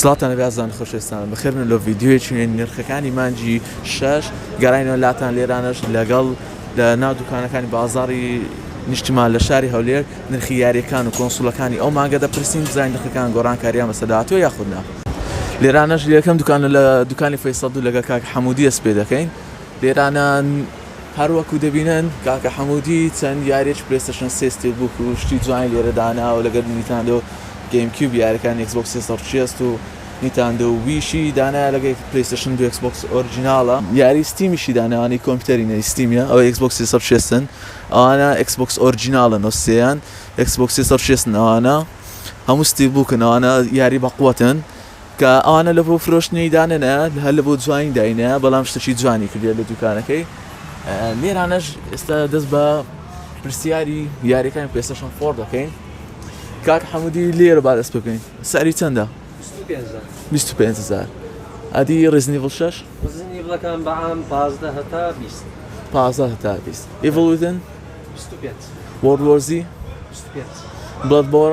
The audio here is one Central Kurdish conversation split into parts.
سڵاوتان لەبێ ئازان خۆشەویستانم بەخێربن و لۆ ڤیدیۆیەکی نوێ نرخەکانی مانگی شەش گەراینەوە لاتان لێرانەش لەگەڵ لە ناو دوکانەکانی بازاڕی نیشتمان لە شاری هەولێر نرخی یاریەکان و کۆنسوڵەکانی ئەو مانگە دەپرسین بزانین نرخەکان گۆڕانکاریان بەسەر داهاتوە یاخود نا لێرانەش لە یەکەم دوکانە لە دوکانی فەیسەڵ دوو لەگەڵ کاک حەمودی دەست پێ دەکەین بێرانان هەر وەکو دەبینن کاکە حەمودی چەند یاریەکی پلەیستەشن سێ ستیل بوک و شتی جوانی لێرە داناوە لەگەر نیتاندۆ گەیم کیوب یارەکان ئێکس بۆکس سێسەد و شێست و نیتاندۆ ویشی دانایە لەگەر پلەیستەشن دوو ئێکس بۆکس ئۆرجیناڵە یاری ستیمیشی داناوە ئەوانەی کۆمپیوتەرینە ی ستیمیە ئەوەی ئێکس بۆکس سێسەد و شێستن ئەوانە ئێکس بۆکس ئۆرجیناڵن و سێیان ئێکس بۆکس سێسەد و شێستن ئەوانە هەموو ستیل بوکن ئەوانە یاری بەقوەتن. کە ئەوانە لە بۆ فرۆشتنی دانێنە هەر لە بۆ جوانی داینە بەڵام شتەکی جوانی کردێت لە دوکانەکەی لێرانەش ئێستا دەست بە پرسیاری یاریەکان پێستشن خۆر دەکەین کاک حەمودی لێرە با دەست بکەین ساری چەندە 25هزار ئەدی ڕزنی بڵ شش ڕزنیڵەکان بەعام پازدە هەتا بیست پازدە هەتا بیست ئیڤڵودن وەڕۆزی بڵەت بۆڕ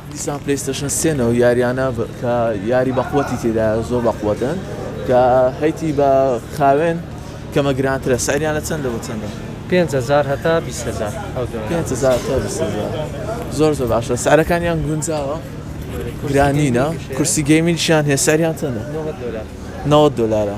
دیسان پلەیستەشن سێ نەوە یاریانە کە یاری بەقوەتی تێدایە زۆر بەقوەتن کە هەیتی بە خاوێن کەمە گرانترە سەریان لە چەندە بە چەندە؟ پێنج هەزار هەتا بیست هەزار ئەو دۆنە. پێنج هەزار هەتا بیست هەزار. زۆر زۆر باشە سعرەکانیان گونجاوە گرانینە کورسی گەیمینگشیان هەیە سعریان چەندە؟ نەوەد دۆلار. نەوەد دۆلارە.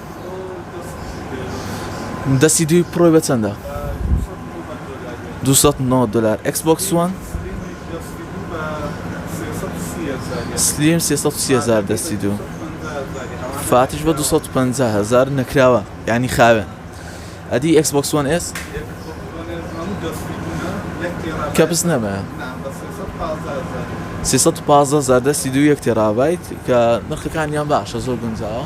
دەستی دووی پڕۆی بە چەندە؟ دلار ئەکس بۆکس وان سلیم هزار دەستی دوو فاتش بە 250 هزار نەکراوە ینی خاوێن ئەدی ئەکس بۆکس وان ئێس کەپس نەبە 315 زار دەستی دوو یەک تێڕابیت کە نرخەکانیان باشە زۆر گونجاوە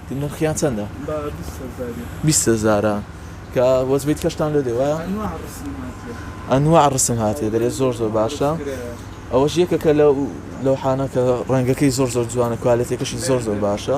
نرخیان چەندە؟ با بیست هەزار بێ. بیست هەزارە کە وەجبەی کەشتان لێ دێ وایە؟ ئەنواع ڕسم هاتیە. ئەنواع ڕسم هاتیە دەرێ زۆر زۆر باشە. ئەوەش یەکەکە لە لەوحانە کە ڕەنگەکەی زۆر زۆر جوانە کوالێتەکەشی زۆر زۆر باشە.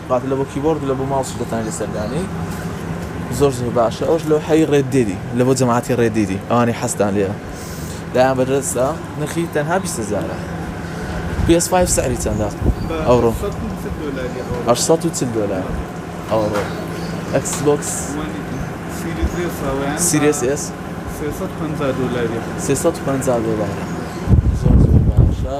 بات لە بۆ کیبۆرد لە بۆ ماوس دەتوانیت لەسەر دانێی زۆر زۆر باشە ئەوش لەو حەی ڕێت دێری لە بۆ جەماعتی ڕێ دێری ئەوانی حەستان لێە لایان بەدەستە نرخی تەنها بیستزارە PS پێ سعری چەندە ئەوڕۆ 840 دلار ئەوڕۆ ئەکسبکس سیریس ئێس 350 دلار زۆر زۆر باشە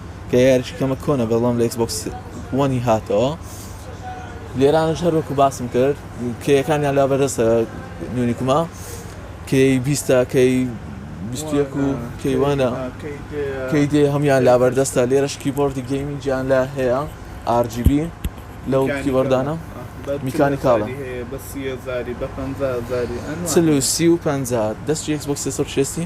یاریەکەمە کۆنە بەڵام لە ئێکسبۆکس وەنی هاتەوە لێرانش هەروەکو باسم کرد کێیەکانیان لا بەدەستە نوێنیکما کێی بیستە کەی بیستێک و کەیوانە کەی دێ هەمان لا بەردەستە لێرەش کیبۆردی گەیمی گیان لا هەیە RGB لەو کیبۆردانە میکانیکاڵە چ و سی و پ دەستی ئێکسبۆکس سەر شێستی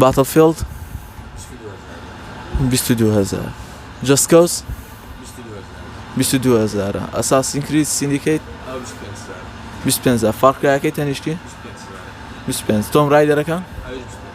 باتڵفیڵد بیست و دوو هەزار جەست کۆز بیست و دوو هەزارە ئەساسین کرید سیندیکەیت بیست و پێنج هەزار فاڕ کرایەکەی تەنیشتی بیست و پێنج تۆم ڕایدەرەکە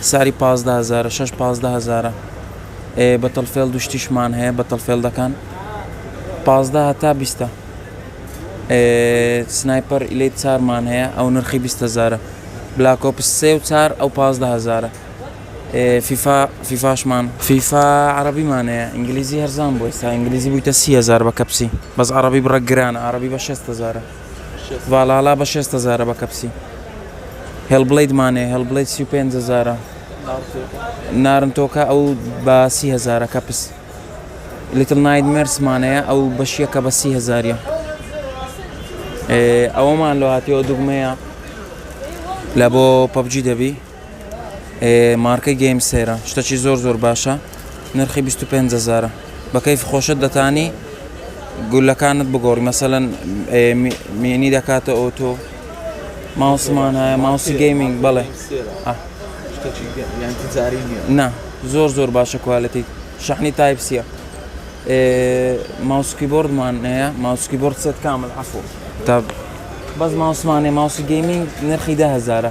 ساری پازدە هەزارە شەش پازدە هەزارە ئێ بەتڵ فێڵد و شتیشمان هەیە بەتڵ فێڵدەکان پازدە هەتا بیستە سنایپەر ئیلیت چارمان هەیە ئەو نرخی بیست هەزارە بلاکۆپس سێ و چار ئەو پازدە هەزارە فیفا فیفاشمان فیفا عربیمانەیە ئینگلیزی هەرزان بۆ ئێستا ئینگلیزی بوویتە سی هزار بە کەپسی بەس عربی بڕە گران عربی بە شێست هزارە ڤالالا بە شێست هەزارە بە کەپسی هێڵ بڵید مانێ هێڵ بڵید سی و پێنج هەزارە نارنتۆکە ئەو بە سی هەزارە کەپس لیتل نایت مێرسمانەیە ئەو بەشیەکە بە سی هەزاریە ئەوەمان لە هاتیەوە دوگمەیە لە بۆ پەبجی دەبی مارکەی گەیم سەیرە شتەکی زۆر زۆر باشە نرخی 25 زارە بەکەیف خۆشت دەتانی گولەکانت بگۆڕی مەسەەن مێنی دەکاتە ئۆتۆ ماوسمان هەیە ماوسی گەیمینگ بڵێ نا زۆر زۆر باشە کوالەتی شەحنی تایپسیە ماوسکی بردمان هەیە ماوسکی برد سێت کامل عفو تا بەس ماوسمانێ ماوسی گەیمینگ نرخی دههزارە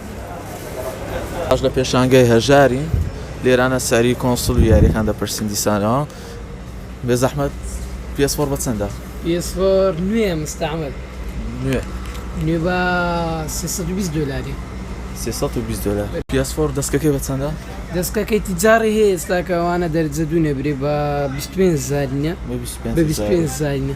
ئەوەش لە پێشانگای هەژاری لێرانە سعری کۆنسوڵ و یاریەکان دەپرسین دیسانەوە بێزەحمەت پێس فۆر بە چەندە؟ پێس فۆر نوێ مستعمل نوێ نوێ بە 320 دۆلاری 320 دۆلار پێس فۆر دەستکەکەی بە چەندە؟ دەستکەکەی تیجاری هەیە ئێستاکە ئەوانە دەرجە دوو نەبرێ بە 25 زارینە بە 25 زارینە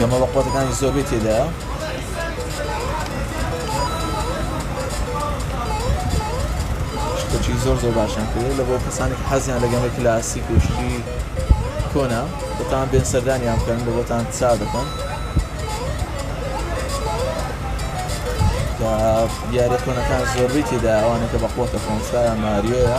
گەمە بە قوتەکانی زۆربەی تێدایە شتەکی زۆر زۆر باشیان کرێ لە بۆ کەسانی حەزیان لە گەمە کلاسیک و شتی کۆنا بەتان بێن سەردانیان بکەن لە بۆتان چا دەکەن دیارە کۆنەکان زۆربەی تێدا ئەوانەکە بە قوتە کۆنسایان ماریۆە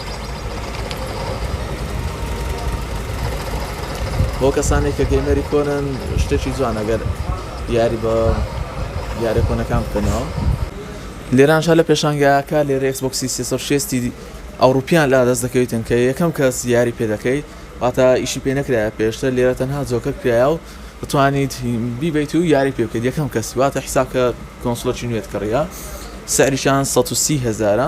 بۆ کەسانێک کە گەیمەری کۆنن شتێکی جوان ئەگەر یاری بە یارە کۆنەکان بکەنەوە لێرانشا لە پێشانگاکە لێرە ئەکسبکسی سێسەشێستی ئەوروپیان لا دەست دەکەویتن کە یەکەم کەس یاری پێ دەکەیت واتە ئیشی پێ نەکرایە پێشتە لێرە تەنها جۆکە کرایە و بتوانیت بیبیت و یاری پێ بکەیت یەکەم کەسی واتە حساب کە کۆنسلۆکی نوێت کڕە سەریشان 130 هزارە